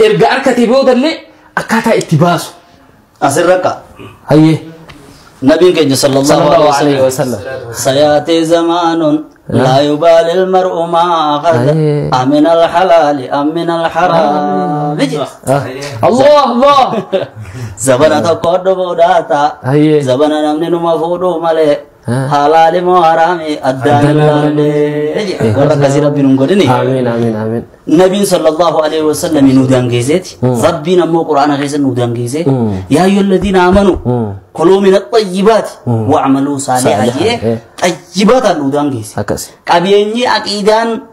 Erga arkatee boodallee akkaataa itti baasu. Asirra akka. Hayyee. Nabiin keenya sallallahu Sallallahu alaihi alaihi wasallam. wasallam. Sayaatee zamaanun laa yubaali ilmar'u maa akhada Ayee. amin alhalaali amin alharaami jedha. Ah. Allah Allah. Zabana tokko dhufuudhaa ta'a. Hayyee. Zabana namni numa fuudhuu malee Halaali moo haraami addaan Addaan ilaalle. ilaalle. Warra akkasii rabbi nun godhini. Amiin amiin amiin. Nabiin sallallahu alaihi wasallam nu daangeesseeti. Rabbiin ammoo quraana keessa nu daangeessee. Yaa ayyuhal ladiina amanu. Kuluu min axayyibaati. Wa'amaluu saalihaa Saalihaa, jee. eh. Xayyibaataan nu daangeesse. Akkasi. Qabeenyi aqiidaan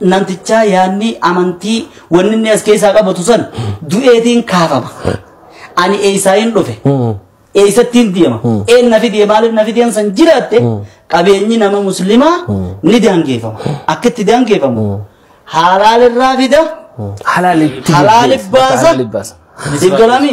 namtichaa yaanni amantii wanni inni as keessaa qabatu san du'eetiin kaafama. Ani eessaayin dhufe. Eessattiin deema. Een nafi deema maaliif nafi deema san jiraatte qabeenyi nama muslimaa ni daangeeffama. Akka itti daangeeffamu halaalirraa fida Halaalitti Halaali baasa. Halaali baasa. isin galami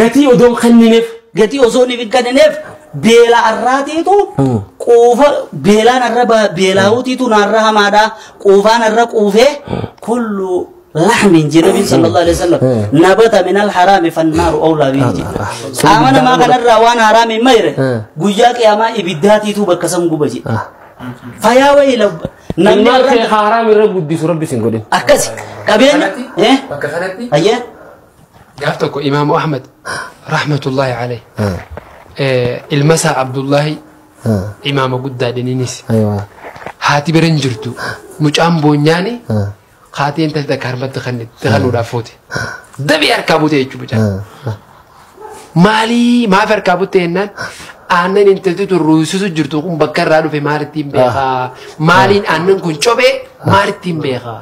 Gatii odoo hin kennineef. Gatii osoo hin kennineef beela arraatiitu quufa beelaan arra ba- beelaawutiitu naarra hamaadha quufaan arra quufee kullu lahmin jedhe nabiin sallallahu alaihi wasallam nabata min alharaami fannaaru awlaa bihi jedhe qaama namaa kanarraa waan haraami hin mayre guyyaa qiyaamaa ibiddaatiitu bakka san guba jedhe fayaa wayii labba namni Ilmaan arra kee haaraam irra guddisu rabbi sin godhin. akkasi qabeenya eh bakka kanatti ayyee gaaf tokko imaamu ahmad rahmatullaahi alayh ilma isaa abdullaahi imaama guddaa dhininis haati bira hin jirtu mucaan boonyaani haati intalli takka harmatti kannitti kanuudhaaf fuute dabii harkaa buute jechuudha mucaan maalii maaf harkaa butte jennaan aannan intalti tun ruusisu jirtu kun bakka irraa dhufe maalittiin beekaa maaliin aannan kun cobee maalittiin beekaa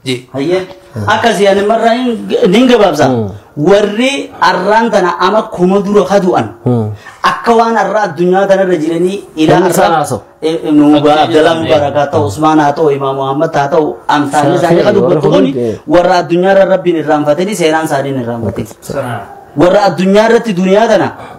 je. Hayyee akkasii ani marraa nin gabaabsa. Warri arraan tana ama kuma dura ka du'an akka waan arraa addunyaa tanarra jiranii ilaa Namni isaan haasa'u. Mugaa Abdalaa Mubaarak haa ta'u Usmaan haa ta'u Imaam Muhammad haa ta'u amsaan isaanii ka dubbatu kun warra addunyaarra rabbiin irraanfatanii seenaan isaanii hin irraanfatin. Sana. Warra addunyaarratti duniyaa tana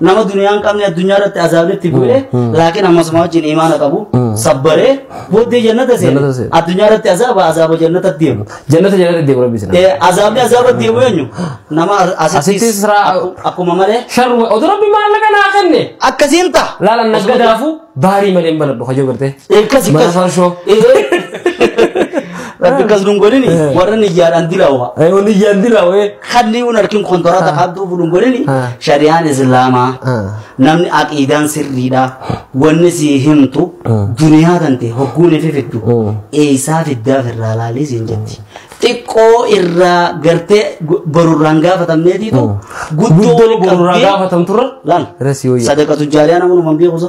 nama duniyaa hin qabne addunyaa irratti azaabni itti bu'e laakiin ammasuma wajjin imaana qabu sabbaree booddee jannata seene Jannata seene. addunyaa irratti azaaba azaaba jannata deemu Jannata jannata deemu rabbi sana. Eh, azaabni azaaba deemu eenyu nama asittis Asittis raa- akku- akkuma malee Sharma oduu rabbi maallaqa naa kenne. akkasiin ta'a Laalan nagga daafuu baarii malee hin banadhu hajoo gartee. Eekas Mana eekas. farshoo. Rabbi akkas nun godhini warra niyyaadhaan dilaawa. Ayi wani yandira wee. kadliun arkin kontorata qabduu bulun godhini Ah. shari'aan islaamaa Ah. namni aqiidaan sirriidha wanni sii himtu duniyaa tante hogguun ifi fiddu Mm. eeysaa fiddaaf irraa laalii siin jetti xiqqoo irraa gartee gu- borurraan gaafatamneetiitu guddoo Guddoo wal borurraa qabdee gaafatamturra laal Resi wayya. sadaqatu jaariyaa namunuman beekusa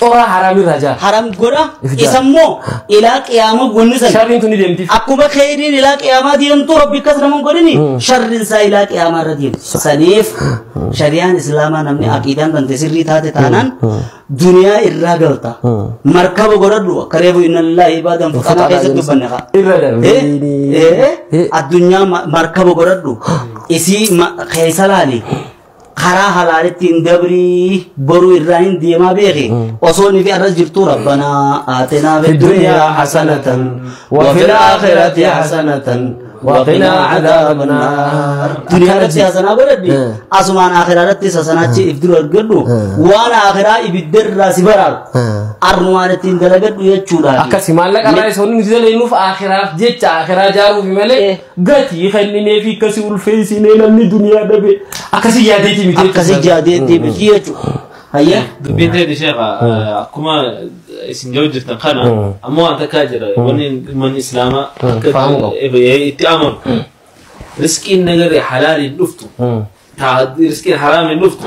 Coraa haraam irraa jaha. haram godha If jaha. isa immoo ilaa qiyaama wanni san Sharriin tun ni deemtiif. akkuma kheyriin ilaa qiyaamaa deemtu rabbi akkas nama hin godhini sharriin isaa ilaa qiyaamaa irra deemtu saniif shari'aan islaamaa namni aqiidaan tante sirrii taate taanaan duniyaa irraa galta markaba godhadhu akka reefu inna lillahi ibaadan fuqanaa keessatti dubbanne kaa Irra darbe. addunyaa ma- markaba godhadhu isii ma- keessa laali karaa halaalitti hin dabrii boruu irraa hin deemaa beeki osoo nifi arras jirtuu rabbanaa aatinaa fi duniyaa hasanatan wa fil aakhirati hasanatan wa qinaa cadaaba naar duniyaa irratti hasanaa godhadhi asumaan aakhiraa irratti hasanaachi if dura argadhu waan aakhiraa ibidda irraa si baraaru arnumaan ittiin dalagadhu jechuudha akkasi maallaqa irraa isa hundi nuti dalagnuuf aakiraaf jecha aakiraa jaaruufi malee Gatii kenninee fi akkasi ulfeessinee namni duniyaa dhabe akkasi yaadeeti miti. Akkasi yaadee deemiti jechuudha. Hayyee. Dubbiin ta'e sheekha akkuma isin jiru jirtan kana ammoo waan takkaa jira wanni manni islaamaa akka Fahamuu qabu. eh, itti amanu riskiin nagaree halaaliin dhuftu taa riskiin haraamiin dhuftu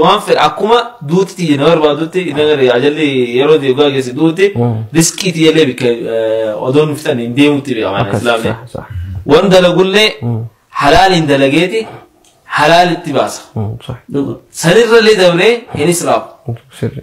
waan fedhe akkuma duuti tiyya na barbaadutti inni gadi ajalli yeroo ta'e dhugaa geessi duuti riskii tiyya illee bikka odoo nu fixan hin deemutti beekama Akkas, islaamni. sa- sa- Waan dalagullee halaaliin dalageeti halaalitti baasa. mm, sa- Sanirrallee dabree hin israafu. sirri.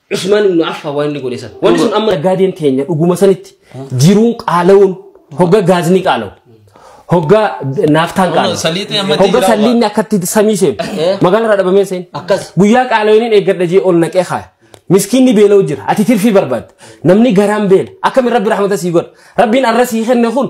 Usmaan ibnu Affaan waan inni godhe san. Wanni sun amma naggaadeen teenya dhuguma sanitti jiruun qaala'uun hogga gaazni qaala'u. Hogga naaftaan Amma qaala'u. saliixni amma itti Hogga jiraatu salliinni akkatti samii seenu. Eh. Magaalarraa dhabamee seenu. Akkas. Guyyaa qaala'iniin eeggadha jee ol naqee kaaya. Miskiinni beela'u jira. Ati tirfii barbaadda. Namni garaan beela. Akkamiin rabbi rahmata sii godha. Rabbiin arra sii kenne kun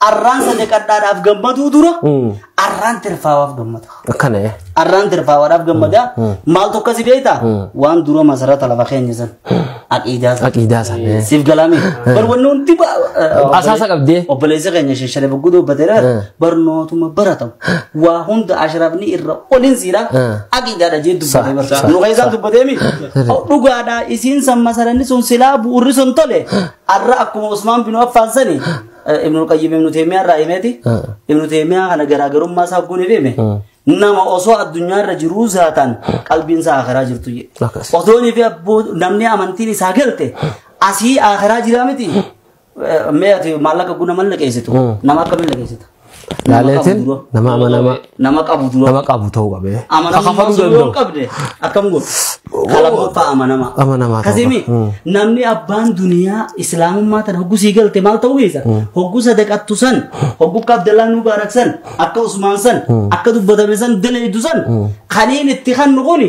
Arraan sadaqadhaadhaaf gammaduu dura arraan tirfaawaaf gammada. Akkana ee. Arraan tirfaawaadhaaf gammada. Maal tokko si beektaa? Waan dura masarata lafa keenya san. Aqiidaa san. Aqiidaa san, eh. Siif galaame. Bar wanni hundi ba- eh, Asaasa qabdee. Obboleessi keenya sheshare baggudoo hubbateera. Barnootuma baratamu. Waa hunda ashraafni irra olin siira. Aqiidaadha jee dubbatee barsiisa. Nu keessaan dubbatee mi? Dhugaadha isiin san masaranni sun silaa bu'urri sun tole. Arra akkuma Usmaan bin Affaan sani Ibnul Qayyim Ibnu Teemiyaa irraa himeeti. Ibnu Teemiyaa kana garaagarummaa isaa hogguun hime. Nama osoo addunyaa irra jiruu zaataan qalbiin isaa akhiraa jirtu jedhe. Akkas. Otoonii fi abboo namni amantiin isaa galte asii akhiraa jiraa miti. Eh, Mee ati maallaqa guna mal naqeessitu? Nama akkamiin naqeessita? Laaleetiin nama amanamaa nama qabu dura nama qabu ta'uu qabe. amanamummaa Kakafaluu osoo yoo danda'u. qabde akkam godhu kalammootaa amanamaa Amanamaa ta'uu kasimi qaba. Mm. namni abbaan duniyaa islaamummaa tana hogguu sii galte maal ta'uu keessa hogguu sadaqattu san hogguu akka abdallaa nuu baarak san akka usmaan san akka dubbatame san dalaydu san kaniin itti kan nuquni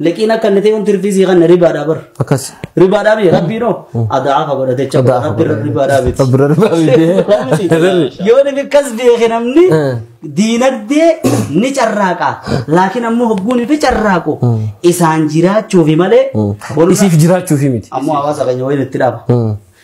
Liqiin akka inni ta'e wanti rifii sii kanna ribaadhaa bar. Akkas. Ribaadhaa miti rabbiin hoo adaafa godha jecha Adaafa rabbi godha. ribaadhaa miti. Rabbi ribaadhaa miti. Ribaadhaa miti. Yoo inni akkas beeke namni Eh. diinagdee ni carraaqa. Laakiin ammoo hogguun fi carraaqu isaan jiraachuufi malee. borra- Isiif jiraachuufi miti. Ammoo hawaasa keenya waliin itti dhaaba. Mm.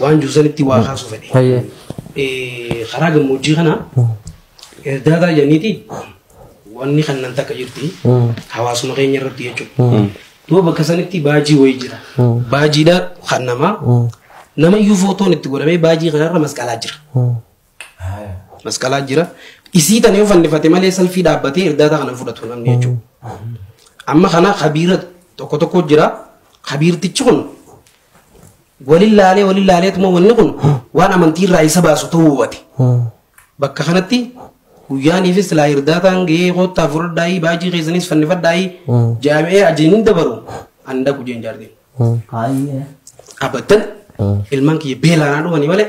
Waan jiru sanitti waa kaasuu fedhe. Hayyee. Eh, Karaa gammoojjii kana erdaataa jedhaniiti wanni kannan takka jirti hawaasuma keenya irratti jechuudha. Duuba bakka sanitti baajii wayii jira. Baajiidha kan namaa nama iyyuu footoon itti godhamee baajii kanarra masqalaa jira. Masqalaa jira. Isii tanee fannifate malee salfii dhaabbatee irdaata kana fudhatu namni jechuudha. Amma kana kabiira tokko tokko jira. Kabiirtichi kun walin laalee walin laaleetuma wanni kun waan amantii irraa isa baasu ta'uu hubate. Bakka kanatti guyyaaniifis silaa irdaataan gahee koottaa fudhadhaayii baajii keessanis fannifadhaayii jaami'ee ajajni dabaru an dhaqu jeen jaartiin. Abadan ilmaan kiyya beelaanaa dhumanii malee